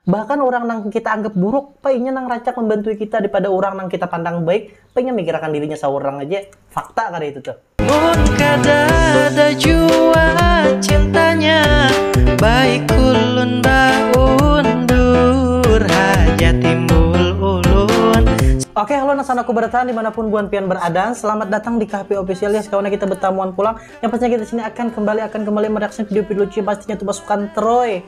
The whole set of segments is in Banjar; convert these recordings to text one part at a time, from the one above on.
Bahkan urang nang kita anggap buruk, pa inya nang rancak mambantui kita daripada urang nang kita pandang baik, pa inya mikirakan dirinya saurang aja. Fakta kada itu tuh? Mun kadada jua cintanya, baik ulun baundur haja timbul ulun. Oke, halo anak sanaku bertahan dimanapun buan pian beradaan, selamat datang di Kahpi Official ya sekawannya kita betamuan pulang, yang pastinya kita sini akan kembali akan kembali mereaction video-video lucu yang pastinya tuh pasukan Troy.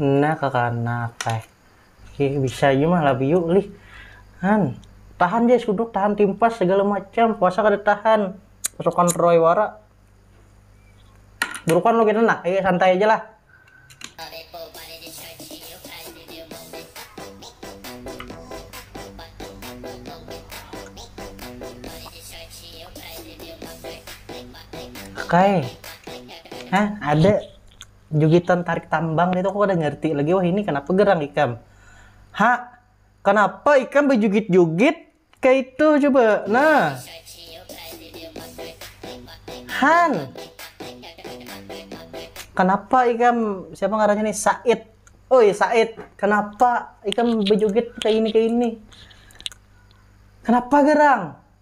Nah kakanak ai. Ih bisa jua mah labi yuk lih. Han. Tahan ja es kuduk, tahan timpas segala macam. Puasa kada tahan. Pasukan Troy wara. Burukan lo kena nak. Ayo santai aja lah. Kakae. Hah, ada. jugitan tarik tambang itu aku kada ngerti lagi wah ini kenapa gerang ikam ha kenapa ikam bejugit-jugit kayak itu coba nah Han kenapa ikam siapa ngarannya nih Said oh ya Said kenapa ikam bejugit kayak ini kayak ini kenapa gerang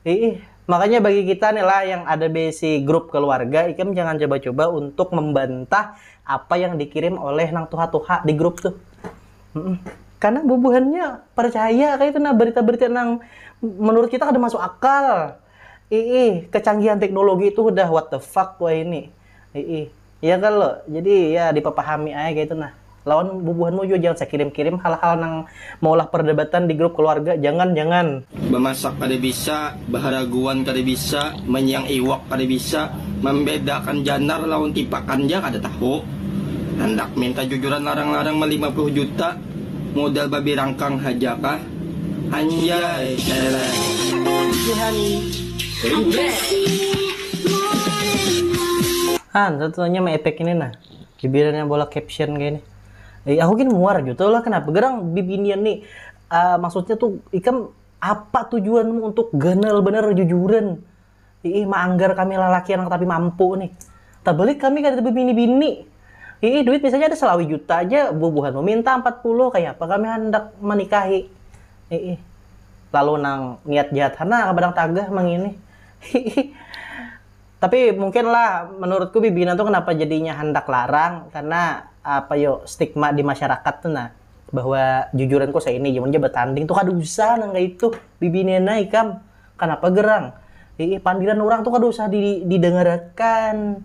Iih, makanya bagi kita nih lah yang ada beisi grup keluarga, ikam jangan coba-coba untuk membantah apa yang dikirim oleh nang tuha-tuha di grup tuh. Karena bubuhannya percaya kaytu nah berita-berita nang menurut kita kada masuk akal. Iih, kecanggihan teknologi itu hudah what the fuck wahini. Iih. Iya kalo, jadi ya dipapahami ae kaitu nah. Lawan bubuhanmu jua jangan sakirim-kirim hal-hal nang maulah pardebatan di grup kaluarga, jangan jangan. Bamasak kada bisa, baharaguan kada bisa, manyiyang iwak kada bisa, mambedakan janar lawan tipakan ja kada tahu. Handak minta jujuran larang-larang malima puluh juta, modal babi rangkang haja kah? Anjay, eleh. Lucu Hani. Jebret. Ah, ntar tuh nanya sama efek ini nah. Bibirannya bola caption kayak ini. Eh, aku gini muar aja tuh lah kenapa gerang bibinian nih. Uh, maksudnya tuh ikam apa tujuanmu untuk ganal bener jujuran? Ih, maanggar kami lelaki anak tapi mampu nih. Tak balik kami kada bibini-bini. Ih, duit misalnya ada selawi juta aja, bubuhan meminta 40, kayak apa kami hendak menikahi. Ih, lalu nang niat jahat hana kabadang tagah mangini. Tapi mungkin lah menurutku bibinan tu kenapa jadinya handak larang karena apa yo stigma di masyarakat tu nah bahwa jujuran ko seini ja mun ja betanding tu kada usah nang kaya itu bibinan ai ikam kenapa gerang hiih pandiran urang tu kada usah di didengarakan.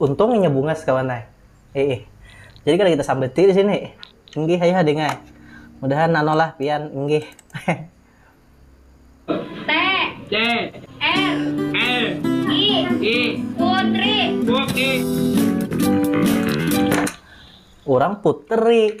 Untung inya bungas kawan ai. Iih. Jadi kada kita sambati di sini. Inggih ayuha ding ai. Mudahan nano lah pian inggih. Urang puteri.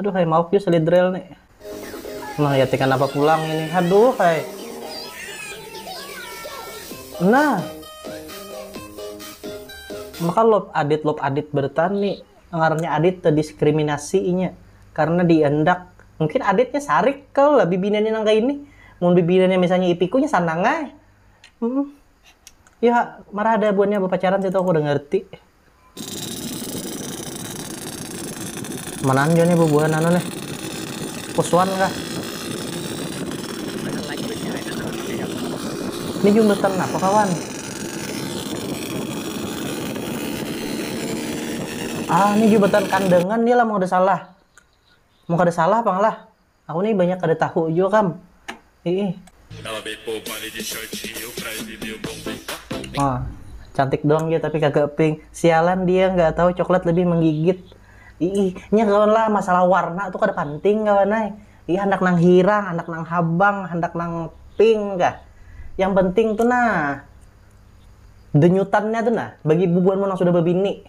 aduh hai maaf yuk selidrel nih nah ya tekan apa pulang ini aduh hai nah maka lop adit lop adit bertani ngarannya adit terdiskriminasi inya karena diandak mungkin aditnya sarik kau lah bibinannya nang kaini mun bibinannya misalnya ipikunya sanang ai hmm. ya marah ada buannya bapacaran situ aku udah ngerti Manaan jua nih bubuhan anu nih. Kuswan kah? Ini jumatan apa kawan? Ah, ini jumatan kandangan nih lah mau ada salah. Mau ada salah apa lah? Aku nih banyak kada tahu jua kam. Iih. Oh, cantik doang ja tapi kagak pink. Sialan dia nggak tahu coklat lebih menggigit. Iih, nya kawan lah masalah warna tuh kada panting kawan ai. Iih handak nang hirang, handak nang habang, handak nang pink kah. Yang penting tuh nah denyutannya tuh nah bagi bubuhanmu nang sudah babini.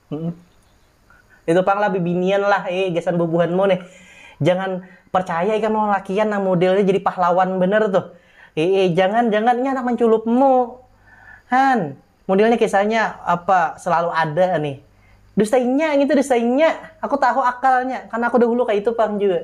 Itu pang lah bibinian lah eh gasan bubuhanmu nih jangan percaya ikam lawan lalakian nang modelnya jadi pahlawan banar tuh ee jangan jangan inya handak manculupmu han modelnya kisahnya apa selalu ada nih dusta inya ngitu dusta inya aku tahu akalnya karena aku dahulu kaitu pang jua.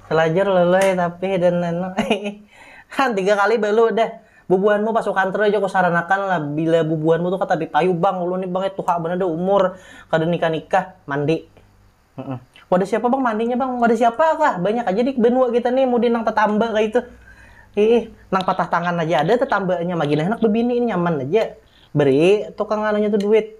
Salajur lului tapi dan anu ha tiga kali balu dah bubuhanmu pasukan terus ja kusaranakan lah bila bubuhanmu tu kata dipayu bang ulun ni bang ya tuha banar dah umur kada nikah nikah mandi wadah siapa bang mandinya bang wadah siapa kah banyak aja di banua kita ni mudi nang tatamba kaitu iih nang patah tangan aja ada tatambanya magin handak babini nyaman aja beri tukang anunya tu duit.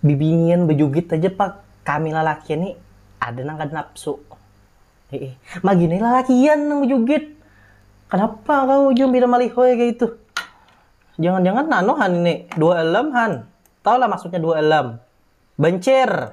bibinian bajugit haja pang kami lalakian ni ada nang kada napsu hiih magini lalakian nang bajugit kanapa kau ujung pina malihoy kaya itu jangan jangan anu han ini dua elem han tau lah maksudnya dua elem bancir.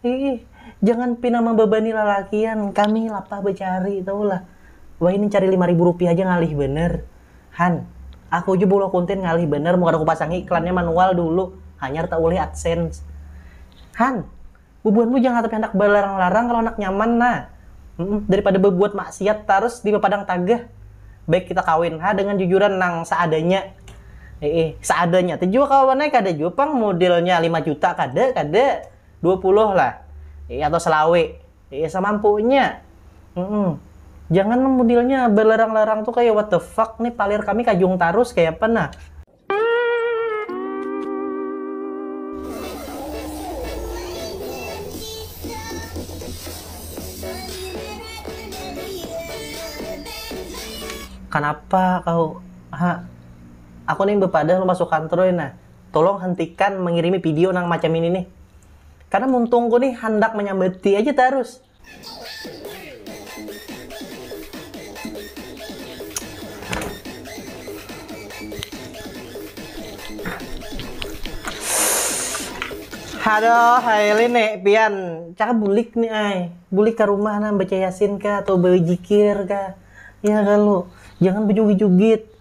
Ih, jangan pina mambabani lalakian, kami lapah bacari, tahu lah. Wahini cari lima ribu rupiah ja ngalih banar. Han, aku ja beulah konten ngalih banar mun kada kupasangi iklannya manual dulu, hanyar taulih adsense. Han, bubuhanmu jangan hatapi handak balarang-larang kalo handak nyaman nah. daripada babuat maksiat tarus di bapadang taga, baik kita kawin ha dengan jujuran nang seadanya, iih seadanya tu jua kawan ai kada jua pang modelnya lima juta kada kada, dua puluh lah iih atau selawe iih samampunya, jangan nang modelnya balarang-larang tu kaya what the fuck ni palir kami kajung tarus kayapa nah. Kanapa kau, ha? Aku nih bepadah lumba sukantrui nah, tulung hentikan mengirimi pidio nang macam ini nih. Karena muntungku nih handak manyambati aja tarus. Haduh, Haili nih pian cara bulik nih ai, bulik ka rumah nah baca yasin kah atau bajikir kah, ya kalu jangan bajugit-jugit.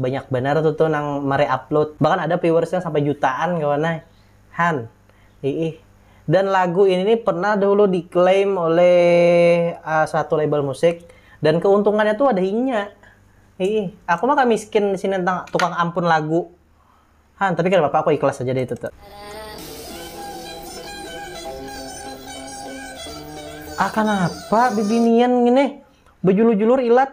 Banyak banar tu tuh nang mereupload. Bahkan ada viewersnya sampai jutaan kawan ai. Han. Iih. Dan lagu ini nih pernah dahulu diklaim oleh satu label musik dan keuntungannya tuh ada inya. Iih. Aku mah kamiskin disini tentang tukang ampun lagu. Han. Tapi kada papa aku ikhlas haja deh itu tuh. Ah kanapa bibinian ngini. Bejulur-julur ilat.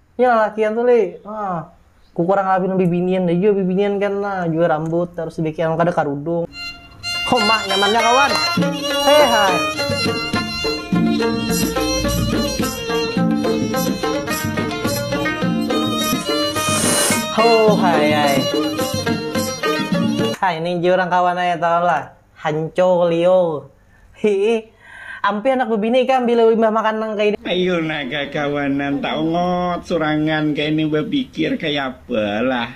nya lalakian tu lih nah ku kurang labih nang bibinian ja jua bibinian kan nah jua rambut tarus dibikin nang kada karudung ho ma nyaman nya kawan ho hayai ha ini jua urang kawan ai tahu lah hanco lio. Hii. Ampih anak bebini ikam bila imbah makan nang kaini. Ayu nah kakawanan taungut surangan kaini bapikir kayapa lah.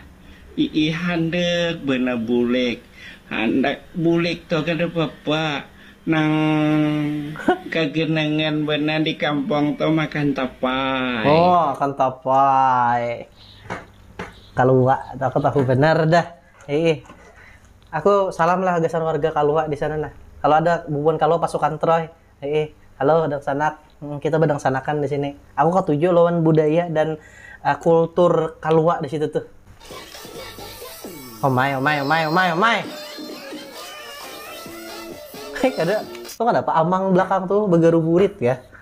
Iih handek banar bulik. Handak bulik tu kada papa. Nang kagenangan banar di kampung tu makan tapai. Oh makan tapai. Kaluak tu aku tahu banar dah. Hiih. Aku salam lah gasan warga Kalua di sana nah. Kalo ada bubuhan Kalua pasukan Troy. Hiih. Halo dangsanak. Humm kita badangsanak-an di sini. Aku katuju lawan budaya dan kultur Kalua di situ tuh. Omai omai omai omai omai. Hei kada. Tahu kada apa amang belakang tuh bagaruburit kah.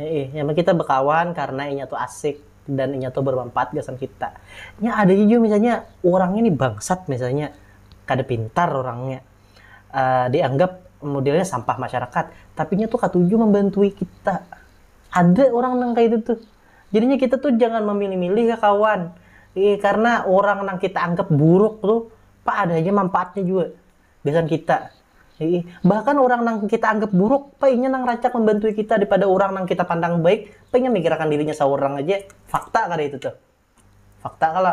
Heeh, nya mah kita bekawan karena inya tu asik dan inya tu bermanfaat gasan kita. Nya ada ja jua misalnya urangnya ni bangsat misalnya, kada pintar urangnya, dianggap modelnya sampah masyarakat, tapi nya tu katuju membantui kita. Ada urang nang kaya itu tuh. Jadinya kita tu jangan memilih-milih ya kawan. Karena urang nang kita anggap buruk tuh, pa ada haja manfaatnya jua. gasan kita. Iih, bahkan urang nang kita anggap buruk, pa inya nang rancak mambantui kita daripada urang nang kita pandang baik, pa inya mikirakan dirinya saurang haja. Fakta kada itu tuh? Fakta kalo.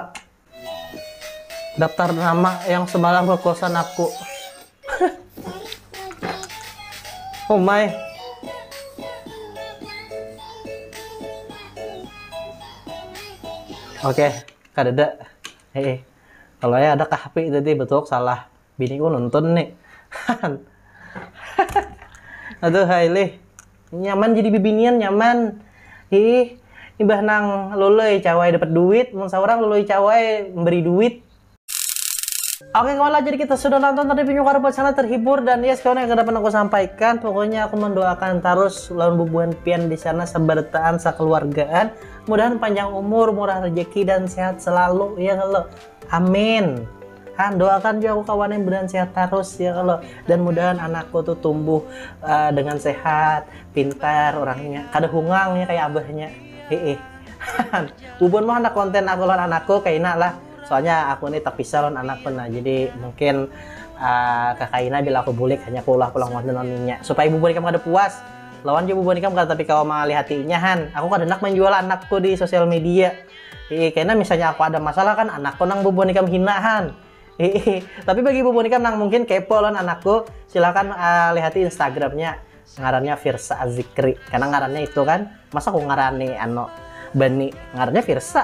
Daftar nama yang semalam ke kosan aku. oh my. Oke, okay. kadada. Heeh. Kalo ai ada kah api tadi betuhuk salah biniku nonton ni hahan aduhai lih nyaman jadi bibinian nyaman hih imbah nang loloi cawai dapat duit mun saurang loloi cawai memberi duit. Oke kawan lah jadi kita sudah nonton tadi punya kawan sana terhibur dan yes kawan yang dapat aku sampaikan pokoknya aku mendoakan tarus lawan bubuhan pian disana seberataan sekeluargaan Mudahan panjang umur, murah rejeki dan sehat selalu ya kalau. Amin. Han, doakan juga aku kawan yang mudahan sehat terus ya kalau dan mudahan anakku tuh tumbuh uh, dengan sehat, pintar orangnya, kada hungang ya kayak abahnya. Heeh. Bubun mah anak konten aku lawan anakku kayak lah. Soalnya aku ini terpisah lawan anak pun nah. Jadi mungkin uh, eh, kakaina bila aku bulik hanya aku ulah pulang konten lawan supaya bubun kamu kada puas Lawan jua bubuhan ikam kada tapi kawa mangalihati inya han. Aku kada handak manjual anakku di sosial media. Hihi kena misalnya aku ada masalah kan anakku nang bubuhan ikam hina han. Hihi tapi bagi bubuhan ikam nang mungkin kepo lawan anakku silakan lihati instagramnya ngarannya Firsa Azikri karena ngarannya itu kan masa ku ngarani anu bani ngarannya Firsa.